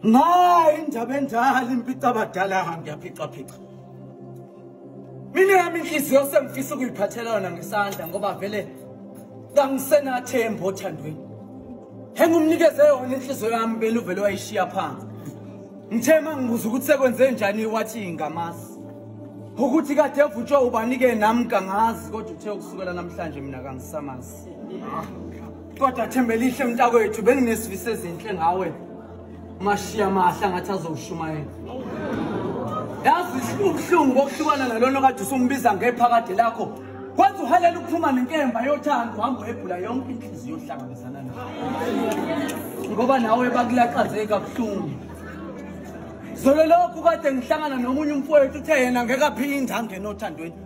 Mayi indaba enjalo imphica abadala ngiyaphica phica. Mina yami inhliziyo sengifisa ukuyiphathela yona ngesandla ngoba vele kangisenathemba othandweni. Engumnikeze yona inhliziyo yami vele uvele wayishiya phansi. Ngithe mangibuza ukuthi sekwenze njani wathi ngamazi. Ukuthi kade evutshwa ubanike nami kangazi kodwa uthe ukusukela namhlanje mina kangisamazi. kodwa thembelihle mntakwethu benginesifiso ezinhle ngawe mashiya mahla ngathi azowushumayela yazi ubuhlungu bokuhlukana nalona kade usumbiza ngephakade lakho kwenza uhalela ukuphuma nenkemba yothando uhamba uhebhula yonke inhliziyo yohlangabezana nayo ngoba nawe bakulaxazeke kabuhlungu zolo lokhu kade ngihlangana nomunye umfowethu uthe yena ngeke aphinde angene othandweni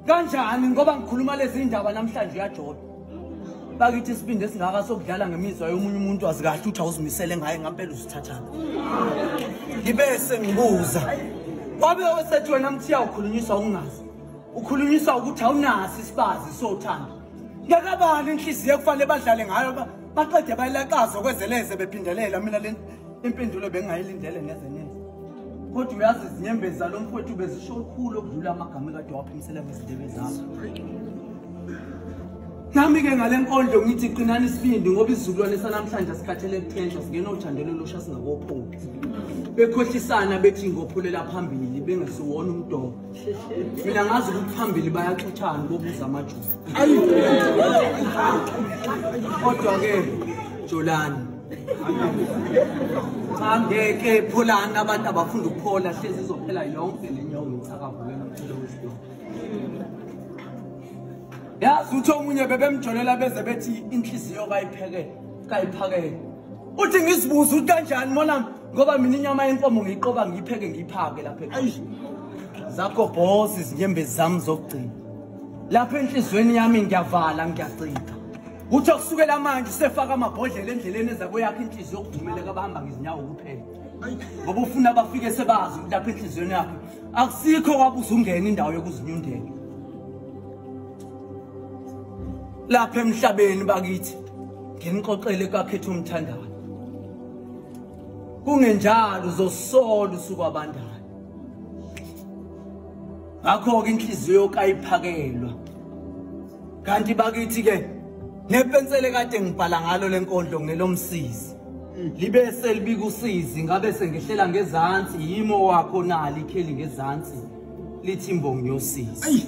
kanjani ngoba ngikhuluma lezi ndaba namhlanje uyajola bakithi isibindi esingaka sokudlala ngemizwa yomunye umuntu wazi kahle ukuthi awuzimisele ngaye ngampela uzithathana ngibe sengibuza wabe osethi wena mthiya ukhulunyiswa ungazi ukhulunyiswa ukuthi awunaso isibazi sothando ngekabani inhliziyo ekufanele badlale ngayo baqede bayilaqaza okwezeleze bephindelela mina le Impendulo bengingayilindele neze neze. Kodwa uyazi izinyembezi zalo mfowethu bezisho lukhulu okudlula amagama kade waphimisela ngezindebe zami. Nami-ke ngale nkondlo ngithi qinani isibindi ngoba isizukulwane sanamhlanje sikhathele kuthenjwa singena othandelo losha singakopholi bekhohlisana bethi ngophulela phambili bengesiwona umdomo mina ngazi ukuthi phambili bayaxuthana bobuza amajuba kodwa-ke jolani cha ngeke pholani abantu abafunda ukuphola hlezi izophela yonke le nyawo ngicakavule nomculo wesidomu yazi uthi omunye bebemjolela beze bethi inhliziyo kayiphekele kayiphakele uthi ngizibuza ukuthi kanjani mona ngoba mina inyama yenkomo ngiyiqoba ngiyipheke ngiyiphake lapha eish zakho boss izinyembezi zami zokugcina lapha enhlizweni yami ngiyavala ngiyagcina Kuthiwa kusukela manje usefaka amabhodlela endleleni eza kweyakho inhliziyo yokudumela kabahamba ngezinyawo kuphela. Ngoba ufuna bafike sebazi ukuthi lapha enhliziyweni yakhe akusikho wabuza ungena indawo yokuzinyundela. Lapha emhlabeni bakithi nginixoxele kakhetho umthandayo. Kungenjalo uzosola usuku abandayo. Ngakho ke inhliziyo kayiphakelwa kanti bakithi ke nepensele kade ngibhala ngalo lenkondlo ngelomsizi libe selibika usizi ngabe sengihlela ngezansi yimo wakho nali ikheli ngezansi lithi imbongi yosizi